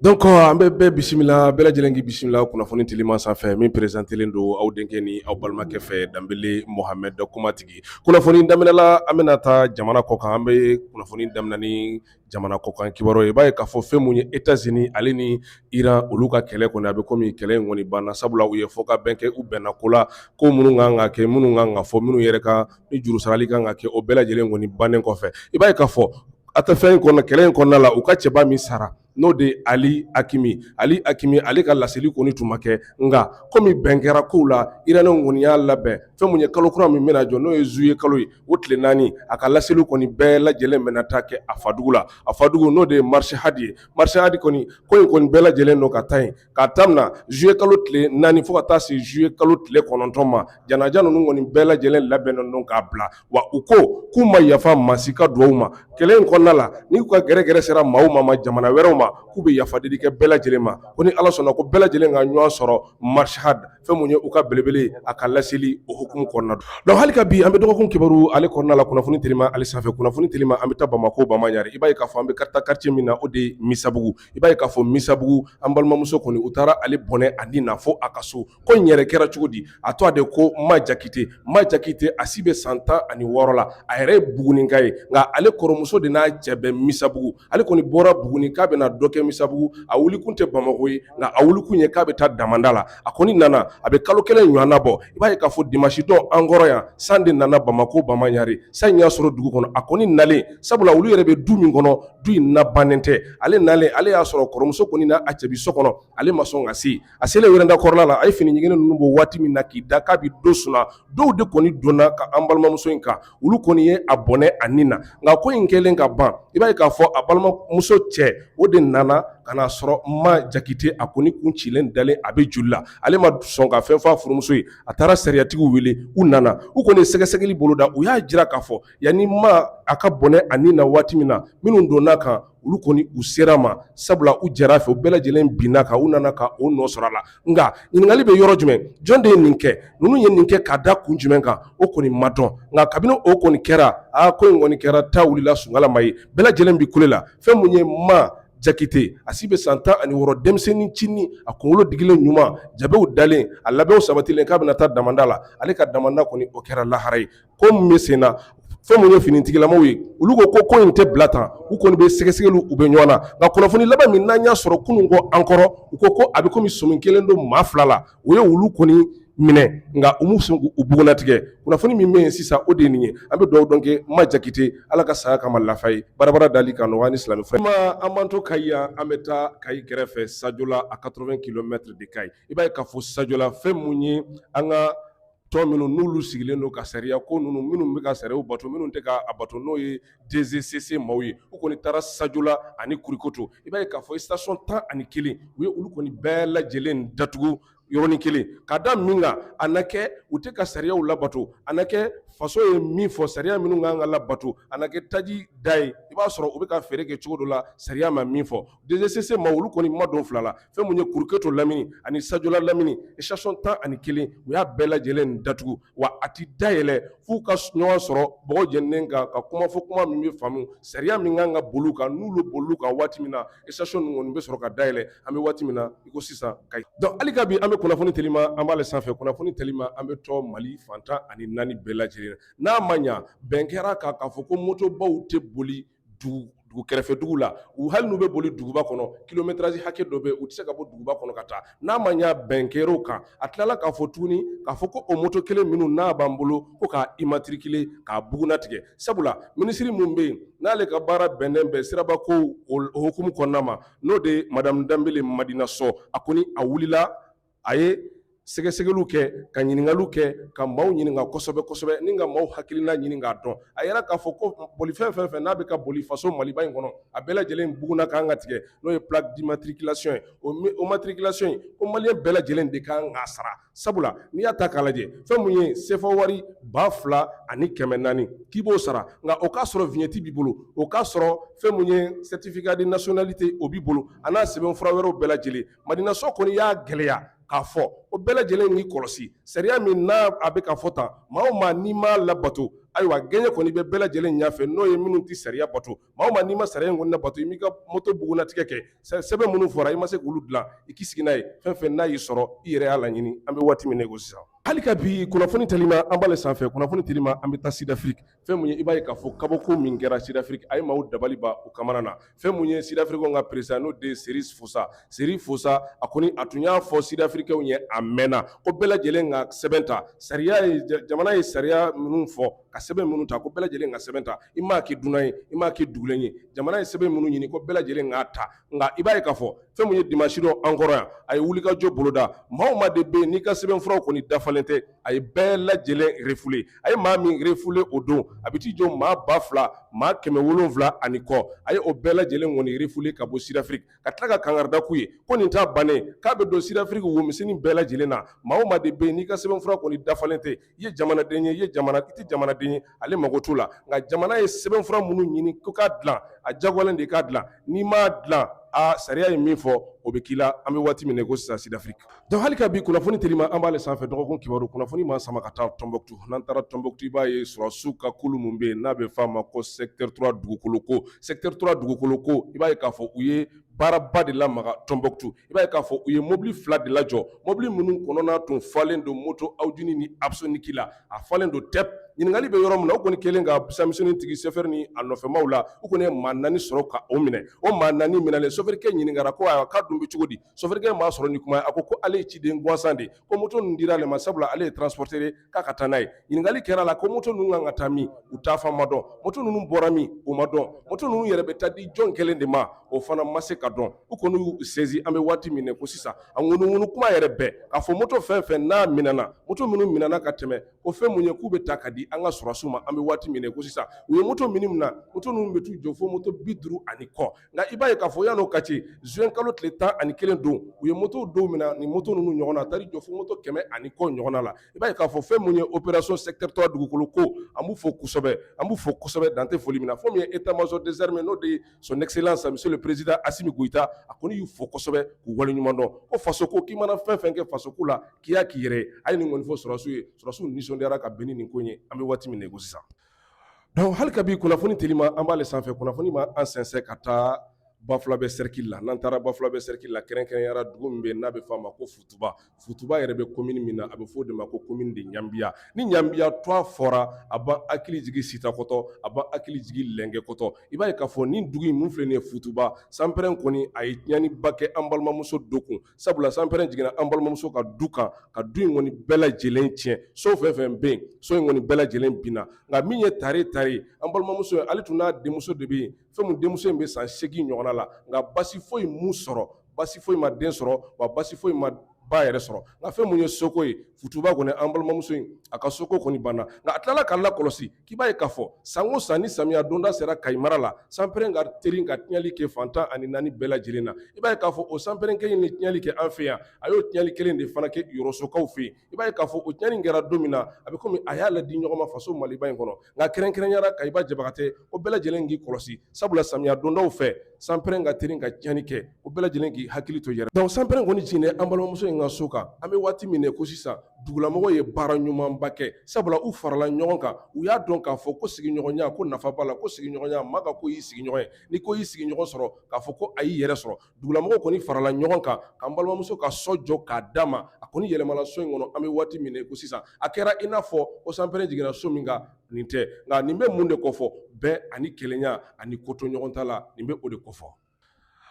Donc an bɛ bɛɛ bisimila bɛɛ lajɛlen k'i bisimila kunnafoni telima sanfɛ min perezantelen don aw denkɛ ni aw balimakɛ fɛ danbele mohamɛd kumatigi kunnafoni daminɛla an bɛna taa jamana kɔkan an bɛ kunnafoni daminɛ ni jamana kɔkan kibaru ye i b'a ye k'a fɔ fɛn mun ye etazini ale ni iran olu ka kɛlɛ kɔni a bɛ kɔmi kɛlɛ in kɔni banna sabula u ye fɔ ka bɛn kɛ u bɛnna ko la ko minnu kan ka kɛ minnu kan ka fɔ minnu yɛrɛ kan ni juru sarali kan ka kɛ o bɛɛ lajɛlen kɔni bannen kɔfɛ i b'a ye k'a fɔ a tɛ fɛn in kɔnɔ kɛlɛ in kɔnɔna la u ka cɛba min sara n'o de ye ali akimi ali akimi ale ka laseli kɔni tun ma kɛ nka komi bɛn kɛra kow la iraniw kɔni y'a labɛn fɛn mun ye kalo kura min bɛna jɔ n'o ye zuye kalo ye o tile naani a ka laseli kɔni bɛɛ lajɛlen bɛna taa kɛ a fadugu la a fadugu n'o de ye marisi hadi ye marisi hadi kɔni ko in kɔni bɛɛ lajɛlen don ka taa yen k'a daminɛ zuye kalo tile naani fo ka taa se zuye kalo tile kɔnɔntɔn ma janaja ninnu kɔni bɛɛ lajɛlen labɛnnen don k'a bila wa u ko k'u ma yafa maa si ka dugawu ma kɛlɛ in kɔnɔna la n'u ka gɛrɛgɛrɛ sera maaw ma ma jamana wɛrɛw ma k'u bɛ yafa deli kɛ bɛɛ lajɛlen ma ko ni ala sɔnna ko bɛɛ lajɛlen ka ɲɔgɔn sɔrɔ marshad fɛn mun ye u ka belebele a ka laseli o hukumu kɔnɔna donc hali ka bi an bɛ dɔgɔkun kibaru ale kɔnɔna la kunnafoni telima ale sanfɛ kunnafoni telima an bɛ taa bamakɔ bamaɲare i b'a ye k'a fɔ an bɛ ka taa kartiye min na o de misabugu i b'a ye k'a fɔ misabugu an balimamuso kɔni u taara ale bɔnɛ a ni na fo a ka so ko in yɛrɛ kɛra cogo di a tɔgɔ de ko ma jakite ma jakite a si bɛ san tan ani wɔɔrɔ la a yɛrɛ ye buguninka ye nka ale kɔrɔmuso de n'a cɛ bɛ misabugu ale kɔni bɔra buguni k'a bɛna dɔ kɛ misabugu a wuli kun tɛ bamakɔ ye nka a wuli kun ye k'a bɛ taa damanda la a kɔni nana a bɛ kalo kelen ɲɔgɔnna bɔ i b'a ye k'a fɔ dimasidon an kɔrɔ yan san de nana bamakɔ bamaɲare san in y'a sɔrɔ dugu kɔnɔ a kɔni nalen sabula olu yɛrɛ bɛ du min kɔnɔ du in nabannen tɛ ale nalen ale y'a sɔrɔ kɔrɔmuso kɔni n'a cɛ bɛ so kɔnɔ ale ma sɔn ka se a selen wɛrɛnda kɔrɔla la a ye fini ɲiginnen ninnu bɔ waati min na k'i da k'a bɛ dɔ suna dɔw de kɔni donn'a kan an balimamuso in kan olu kɔni ye a bɔnɛ a ni na nka ko in kɛlen ka ban i b'a ye k'a fɔ a balimamuso cɛ o de nana ka n'a sɔrɔ ma jakite a kɔni kun cilen dalen a bɛ joli la ale ma sɔn ka fɛn fɔ a furumuso ye a taara sariyatigiw wele u nana u kɔni ye sɛgɛsɛgɛli boloda u y'a jira k'a fɔ yanni ma a ka bɔnɛ a ni na waati min na minnu donn'a kan olu kɔni u ser'a ma sabula u jɛra a fɛ u bɛɛ lajɛlen binn'a kan u nana ka o nɔ sɔrɔ a la nka ɲininkali bɛ yɔrɔ jumɛn jɔn de ye nin kɛ ninnu ye nin kɛ ka da kun jumɛn kan o kɔni ma dɔn nka kabini o kɔni kɛra a ko in kɔni kɛra ta wulila sunkalama ye bɛɛ lajɛlen bɛ kule la fɛn min ye ma jakite a si bɛ san tan ani wɔɔrɔ denmisɛnnin cini a kunkolo digilen ɲuman jabew dalen a labɛnw sabatilen k'a bɛna taa damanda la ale ka damanda kɔni o kɛra lahara ye ko min bɛ sen na fɛn mun ye finitigilamaw ye olu ko ko ko in tɛ bila tan u kɔni bɛ sɛgɛsɛgɛliw u bɛ ɲɔgɔn na nka kunnafoni laban min n'an y'a sɔrɔ kunun kɔ an kɔrɔ u ko ko a bɛ kɔmi sɔmi kɛlen don maa fila la u ye olu kɔni minɛ nka u m'u bugunnatigɛ kunnafoni min bɛ yen sisan o de nin ye an bɛ dugawu don kɛ ma jakite ala ka saya k'a ma lafiya ye barabara dali ka nɔgɔ ni silamɛ fɛ ma an b'an to kayi yan an bɛ taa kayi kɛrɛfɛ sajola à quatre-vingts kilomètres de kayi i b'a ye k'a fɔ sajola fɛn mun ye an ka tɔn minnu n'olu sigilen don ka sariya ko ninnu minnu bɛ ka sariyaw bato minnu tɛ k'a bato n'o ye DGCC maaw ye u kɔni taara sajola ani kurukoto i b'a ye k'a fɔ station tan ani kelen u ye olu kɔni bɛɛ lajɛlen datugu yɔrɔnin kelen ka da min kan a na kɛ u tɛ ka sariyaw labato a na kɛ faso ye min fɔ sariya minnu kan ka labato a na kɛ taji da ye i b'a sɔrɔ u bɛ ka feere kɛ cogo dɔ la sariya ma min fɔ DGCC ma olu kɔni ma don fila la fɛn mun ye kuruketo lamini ani sajola lamini station tan ani kelen u y'a bɛɛ lajɛlen datugu wa a tɛ da yɛlɛ f'u ka ɲɔgɔn sɔrɔ bɔgɔ jeninen kan ka kuma fɔ kuma min bɛ faamu sariya min kan ka boli kan n'u bɛ boli kan waati min na station ninnu bɛ sɔrɔ ka da yɛlɛ an bɛ waati min na i ko sisan kayi donc hali ka bi an bɛ kunnafoni telima an b'ale sanfɛ kunnafoni telima an bɛ to mali fan tan ani naani bɛɛ lajɛlen n'a ma ɲa bɛn kɛra kan k'a fɔ ko motobaw tɛ boli dugu kɛrɛfɛ dugu la u hali n'u bɛ boli duguba kɔnɔ kilométrage hakɛ dɔ bɛ u tɛ se ka bɔ duguba kɔnɔ ka taa n'a ma ɲa bɛn kɛr'o kan a tilala k'a fɔ tuguni k'a fɔ ko o moto kelen minnu n'a b'an bolo ko k'a immatriculer k'a bugunnatigɛ sabula minisiri min bɛ yen n'ale ka baara bɛnnen bɛ sirabakow hukumu kɔnɔna ma n'o de ye madamu danbele madina sɔ a kɔni a wulila a ye sɛgɛsɛgɛliw kɛ ka ɲininkaliw kɛ ka maaw ɲininka kosɛbɛ kosɛbɛ ni ka maaw hakilina ɲini k'a dɔn a yera k'a fɔ ko bolifɛn fɛn fɛn n'a bɛ ka boli faso maliba in kɔnɔ a bɛɛ lajɛlen bugunna kan ka tigɛ n'o ye plaque d'immatriculation ye o matriculation in ko maliyɛn bɛɛ lajɛlen de kan k'a sara sabula n'i y'a ta k'a lajɛ fɛn mun ye sefa wari ba fila ani kɛmɛ naani k'i b'o sara nka o k'a sɔrɔ vignette b'i bolo o k'a sɔrɔ fɛn mun ye certificat de nationalité o b'i bolo a n'a sɛbɛn fura wɛrɛw bɛɛ lajɛlen Madina sɔ kɔni y'a gɛlɛya k'a fɔ o bɛɛ lajɛlen k'i kɔlɔsi sariya min n'a bɛ ka fɔ tan maa o maa n'i m'a labato ayiwa gɛɲɛ kɔni bɛ bɛɛ lajɛlen ɲɛfɛ n'o ye minnu tɛ sariya bato maa o maa n'i ma sariya in kɔni labato i m'i ka moto bugunnatigɛ kɛ sɛbɛn minnu fɔra i ma se k'olu dilan i k'i sigi n'a ye fɛn fɛn n'a y'i sɔrɔ i yɛrɛ y'a laɲini an bɛ waati min na i ko sisan hali ka bi kunnafoni telima an b'ale sanfɛ kunnafoni telima an bɛ taa sidafiriki fɛn mun ye i b'a ye k'a fɔ kabako min kɛra sidafiriki a ye maaw dabali ban u kamana na fɛn mun ye sidafirikɛw ka peresidan n'o de ye seri fosa seri fosa a kɔni a tun y'a fɔ sidafirikɛw ye a mɛnna ko bɛɛ lajɛlen ka sɛbɛn ta sariya ye jamana ye sariya minnu fɔ ka sɛbɛn minnu ta ko bɛɛ lajɛlen ka sɛbɛn ta i m'a kɛ dunan ye i m'a kɛ dugulen ye jamana ye sɛbɛn minnu ɲini ko bɛɛ lajɛlen k'a ta nka i b'a ye k'a fɔ fɛn mun ye dimanche don an kɔrɔ yan a ye wulikajɔ boloda maa o maa de bɛ yen n'i ka sɛbɛnfuraw kɔni dafalen tɛ a ye bɛɛ lajɛlen refule a ye maa min refule o don a bɛ t'i jɔ maa ba fila maa kɛmɛ wolonwula ani kɔ a ye o bɛɛ lajɛlen kɔni refule ka bɔ sidafiriki ka tila ka kangarida k'u ye ko nin t'a bannen k'a bɛ don sidafiriki womisɛnnin bɛɛ lajɛlen na maa o maa de bɛ yen n'i ka sɛbɛnfura kɔni dafalen tɛ i ye jamanaden ye i tɛ jamanaden ye ale mago t'o la nka jamana ye sɛbɛnfura minnu ɲini ko k'a dilan a jagoyalen de k'a dilan n'i m'a dilan a sariya ye min fɔ o bɛ k'i la an bɛ waati min na i ko sisan sidafiriki donc hali ka bi kunnafoni telima an b'ale sanfɛ dɔgɔkun kibaru kunnafoni ma sama ka taa tɔnbɔkutu n'an taara tɔnbɔkutu i b'a ye sɔrɔsiw ka kulu min bɛ yen n'a bɛ f'a ma ko secteur 3 dugukolo ko secteur 3 dugukolo ko i b'a ye k'a fɔ u ye baaraba de lamaga tɔnbɔkutu i b'a ye k'a fɔ u ye mobili fila de lajɔ mobili minnu kɔnɔna tun falen don moto Haojin ni Apsonic la a falen don tɛp ɲininkakali bɛ yɔrɔ min na u kɔni kelen ka fɛnmisɛn tigi sofɛri ni a nɔfɛmaw la u kɔni ye maa naani sɔrɔ ka o minɛ o maa naani minɛlen sofɛrikɛ ɲininkara ko ayiwa k'a dun bɛ cogo di sofɛrikɛ m'a sɔrɔ ni kuma ye a ko ale ye ciden gansan de ye ko moto ninnu dira ale ma sabula ale ye transporteur ye k'a ka taa n'a ye ɲininkali kɛra a la ko moto ninnu kan ka taa min u taafan ma dɔn moto ninnu bɔra min o ma dɔn moto ninnu yɛrɛ bɛ taa di jɔn kelen de ma o fana ma se ka dɔn u kɔni y'u sezi an bɛ waati min na i ko sisan a ŋunuŋunu kuma yɛrɛ bɛ ka fɔ moto fɛn fɛn n'a minɛna moto minnu minɛna ka tɛmɛ ko fɛn mun ye k'u bɛ ta ka di an ka sɔrɔsiw ma an bɛ waati min na i ko sisan u ye moto minnu minɛ moto ninnu bɛ t'u jɔ fo moto bi duuru ani kɔ nka i b'a ye k'a fɔ yan'o ka ci juin kalo tile tan ani kelen don u ye moto dɔw minɛ ni moto ninnu ɲɔgɔn na a taar'i jɔ fo moto kɛmɛ ani kɔ ɲɔgɔnna la i b'a ye k'a fɔ fɛn mun ye opération secteur trois dugukolo ko an b'u fo kosɛbɛ an b'u fo kosɛbɛ dan tɛ foli min na fo min ye état major des armées n'o de ye son excellence monsieur le président Assimi Goïta a kɔni y'u fo kosɛbɛ k'u waleɲuman dɔn ko faso ko k'i mana fɛn fɛn kɛ faso ko la k'i y'a k'i yɛrɛ ye a ye nin kɔni fɔ sɔrɔdasiw ye sɔrɔdasiw nisɔndiyara ka bɛn ni nin ko in ye an bɛ waati min na i ko sisan Donc hali ka bi kunnafoni telima an b'ale sanfɛ kunnafoni ma an sɛnsɛn ka taa Bafulabɛ cercle la n'an taara Bafulabɛ cercle la kɛrɛnkɛrɛnyara dugu min bɛ yen n'a bɛ f'a ma ko futuba futuba yɛrɛ bɛ commune min na a bɛ fɔ o de ma ko commune de ɲanbiya ni ɲanbiya tɔgɔ fɔra a b'an hakili jigin sitakɔtɔ a b'an hakili jigin lengekɔtɔ i b'a ye k'a fɔ nin dugu in min filɛ nin ye futuba sanpɛrɛn kɔni a ye tiɲɛniba kɛ an balimamuso dɔ kun sabula sanpɛrɛn jiginna an balimamuso ka du kan ka du in kɔni bɛɛ lajɛlen tiɲɛ so fɛn fɛn bɛ yen so in kɔni bɛɛ lajɛlen binna nka min ye tare tare an balimamuso ye ale tun n'a denmuso de bɛ yen fɛn mun denmuso in bɛ san seegin ɲɔgɔnna la nka basi foyi m'u sɔrɔ basi foyi ma den sɔrɔ wa basi foyi ma ba yɛrɛ sɔrɔ nka fɛn mun ye soko ye futuba kɔni an balimamuso in a ka soko kɔni banna nka a tilala k'a lakɔlɔsi K'i b'a ye k'a fɔ san o san ni samiya donda sera Kayi mara la sanpɛrɛn ka teri ka tiɲɛli kɛ fan tan ani naani bɛɛ lajɛlen na, i b'a ye k'a fɔ o sanpɛrɛn kelen in ye tiɲɛli kɛ an fɛ yan, a y'o tiɲɛli kelen de fana kɛ Yɔrɔsokaw fɛ yen, i b'a ye k'a fɔ o tiɲɛni in kɛra don min na, a bɛ komi a y'a ladi ɲɔgɔn ma faso Maliba in kɔnɔ, nka kɛrɛnkɛrɛnyara Kayiba Jabagatɛ ko bɛɛ lajɛlen k'i kɔlɔsi sabula samiya dondaw fɛ sanpɛrɛn ka teri ka tiɲɛni kɛ o bɛɛ lajɛlen k'i hakili to yɛrɛ dɔnku sanpɛrɛn kɔni jiginnen an balimamuso in ka so kan an bɛ waati min na ko sisan dugulamɔgɔw ye baara ɲumanba kɛ sabula u farala ɲɔgɔn kan u y'a dɔn k'a fɔ ko sigiɲɔgɔnya ko nafa b'a la ko sigiɲɔgɔnya maa ka ko y'i sigiɲɔgɔn ye ni ko y'i sigiɲɔgɔn sɔrɔ k'a fɔ ko a y'i yɛrɛ sɔrɔ dugulamɔgɔw kɔni farala ɲɔgɔn kan k'an balimamuso ka so jɔ k'a d'a ma a kɔni yɛlɛmana so in kɔnɔ an bɛ waati min na ko sisan a kɛra i n'a fɔ ko sanpɛrɛn jiginna so min kan nin tɛ nka nin bɛ mun de kofɔ bɛn ani kelenya ani koto ɲɔgɔn ta la nin bɛ o de kofɔ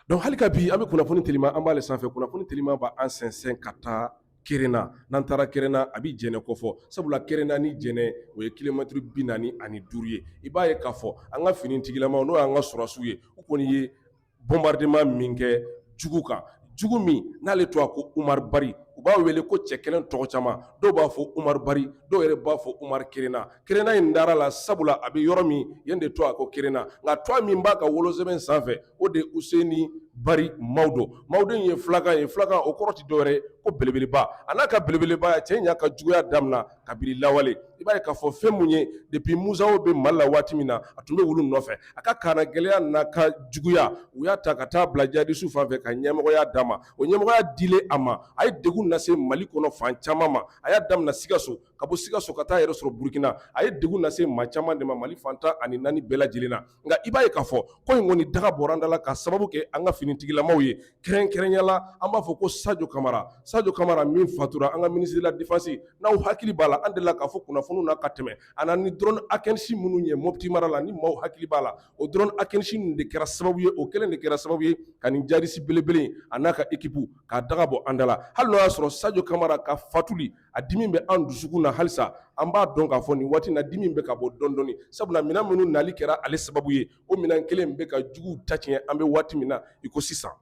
dɔnku hali ka bi an bɛ kunnafoni telima an b'ale sanfɛ kunnafoni telima b'an sɛnsɛn ka taa kerena n'an taara kerena a bɛ jɛnɛ kofɔ sabula kerena ni jɛnɛ o ye kilomɛtiri bi naani ani duuru ye i b'a ye k'a fɔ an ka finitigilamaw n'o y'an ka sɔrɔdasiw ye u kɔni ye bombardement min kɛ jugu kan, jugu min n'ale tɔgɔ ko Umaru Bari, u b'a wele ko cɛ kelen tɔgɔ caman, dɔw b'a fɔ Umaru Bari, dɔw yɛrɛ b'a fɔ Umaru Kerena, Kerena in dara a la sabula a bɛ yɔrɔ min yen de tɔgɔ ko Kerena, nka tɔgɔ min b'a ka wolosɛbɛn sanfɛ o de ye Useni Bari Mawdo, Mawdo in ye fulakan ye, fulakan o kɔrɔ tɛ dɔwɛrɛ ye ko belebeleba, a n'a ka belebelebaya cɛ in y'a ka juguya damina kabiri lawale i b'a ye k'a fɔ fɛn mun ye depi mujawo bɛ mali la waati min na a tun bɛ olu nɔfɛ a ka kannagɛlɛya n'a ka juguya u y'a ta ka taa bila jihadisiw fan fɛ ka ɲɛmɔgɔya d'a ma o ɲɛmɔgɔya dilen a ma a ye degun lase mali kɔnɔ fan caman ma a y'a daminɛ sikaso ka bɔ sikaso ka taa yɛrɛ sɔrɔ burukina a ye degun lase maa caman de ma mali fan tan ani naani bɛɛ lajɛlen na nka i b'a ye k'a fɔ ko in kɔni daga bɔra an da la ka sababu kɛ an ka finitigilamaw ye kɛrɛnkɛrɛnyala an b'a fɔ ko sajo kamara sajo kamara min fatura an ka ministre de la défense n'aw hakili b'a la an delila k'a fɔ kunnafoni na ka tɛmɛ a nana ni drone akinci minnu ye mopti mara la ni maaw hakili b'a la o drone akinci de kɛra sababu ye o kelen de kɛra sababu ye ka nin jihadisi belebele a n'a ka ekip k'a daga bɔ an da la hali n'o y'a sɔrɔ sajo kamara ka fatuli A dimi bɛ an dusukun na halisa an b'a dɔn k'a fɔ nin waati na dimi bɛ ka bɔ dɔndɔni sabula minɛn minnu nali kɛra ale sababu ye o minɛn kelen bɛ ka juguw ta tiɲɛ an bɛ waati min na i ko sisan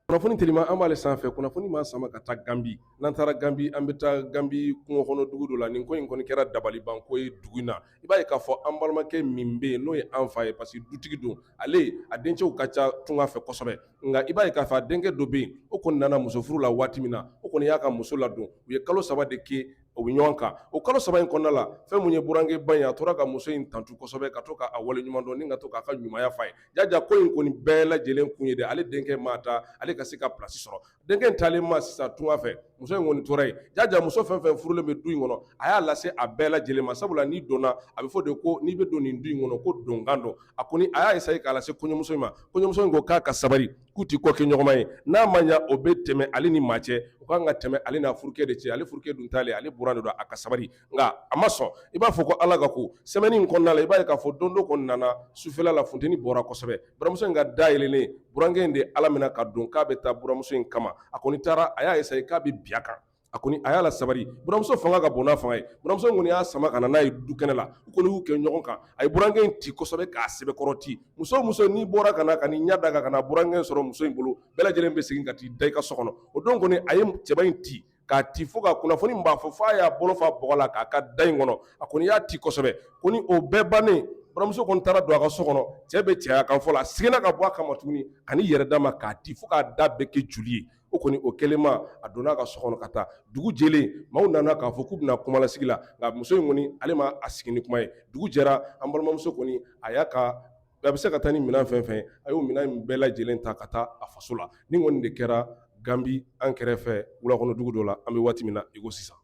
kunnafoni telima an b'ale sanfɛ kunnafoni b'an sama ka taa ganbi n'an taara ganbi an bɛ taa ganbi kungokɔnɔdugu dɔ la nin ko in kɔni kɛra dabalibanko ye dugu in na i b'a ye k'a fɔ an balimakɛ min bɛ yen n'o ye an fa ye parce que dutigi don ale a dencɛw ka ca tunga fɛ kosɛbɛ nka i b'a ye k'a fɔ a denkɛ dɔ bɛ yen o kɔni nana muso furu la waati min na o kɔni y'a ka muso ladon u ye kalo saba de kɛ u bɛ ɲɔgɔn kan o kalo saba in kɔnɔna la fɛn mun ye burankɛba in a tora ka muso in tantu kosɛbɛ ka to k'a wale ɲuman dɔn ni ka to k'a ka ɲumanya f'a ye jaja ko in kɔni bɛɛ lajɛlen kun ye de ale denkɛ maa taa ale ka se ka plasi sɔrɔ Denkɛ in taalen ma sisan tunga fɛ muso in kɔni tora yen jaja muso fɛn fɛn furulen bɛ du in kɔnɔ a y'a lase a bɛɛ lajɛlen ma sabula n'i donna a bɛ fɔ de ko n'i bɛ don nin du in kɔnɔ ko donkan don a kɔni a y'a essayer k'a lase kɔɲɔmuso in ma kɔɲɔmuso in ko k'a ka sabali k'u tɛ ko kɛ ɲɔgɔnma ye n'a ma ɲɛ o bɛ tɛmɛ ale ni maa cɛ o kan ka tɛmɛ ale n'a furukɛ de cɛ ale furukɛ dun taalen ale buran de don a ka sabali nka a ma sɔn i b'a fɔ ko ala ka ko semaine in kɔnɔna la i b'a ye k'a fɔ don dɔ kɔni nana sufɛla la funteni bɔra kosɛbɛ buramuso in ka da yɛlɛlen burankɛ in de ala minɛ ka don k'a bɛ taa buramuso in kama a kɔni taara a y'a essayer k'a bɛ bin a kan a kɔni a y'a la sabari buramuso fanga ka bon n'a fanga ye buramuso in kɔni y'a sama ka na n'a ye du kɛnɛ la u kɔni y'u kɛ ɲɔgɔn kan a ye burankɛ in ti kosɛbɛ k'a sɛbɛkɔrɔ ti muso o muso n'i bɔra ka na ka n'i ɲɛ da kan ka na burankɛ in sɔrɔ muso in bolo bɛɛ lajɛlen bɛ segin ka t'i da i ka so kɔnɔ o don kɔni a ye cɛba in ti k'a ti fo ka kunnafoni b'a fɔ f'a y'a bolo fa bɔgɔ la k'a k'a da in kɔnɔ a kɔni y'a ti kosɛbɛ ko ni o bɛɛ bannen buramuso kɔni taara don a ka so kɔnɔ cɛ bɛ cɛya kan fɔ la a seginna ka bɔ a kama tuguni ka n'i yɛrɛ d'a ma k'a ti fo k'a da bɛɛ kɛ joli ye o kɔni o kɛlenma a donna a ka so kɔnɔ ka taa dugu jɛlen maaw nana k'a fɔ k'u bɛna kumalasigi la nka muso in kɔni ale ma a sigi ni kuma ye dugu jɛra an balimamuso kɔni a y'a ka a bɛ se ka taa ni minɛn fɛn fɛn a y'o minɛn in bɛɛ lajɛlen ta ka taa a faso la nin kɔni de kɛra ganbi an kɛrɛfɛ wulakɔnɔdugu dɔ la an bɛ waati min na iko sisan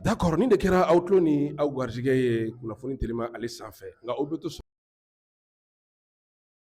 d'accord nin de kɛra aw tulo ni aw garijɛgɛ ye kunnafoni telima ale sanfɛ nka o bɛ to so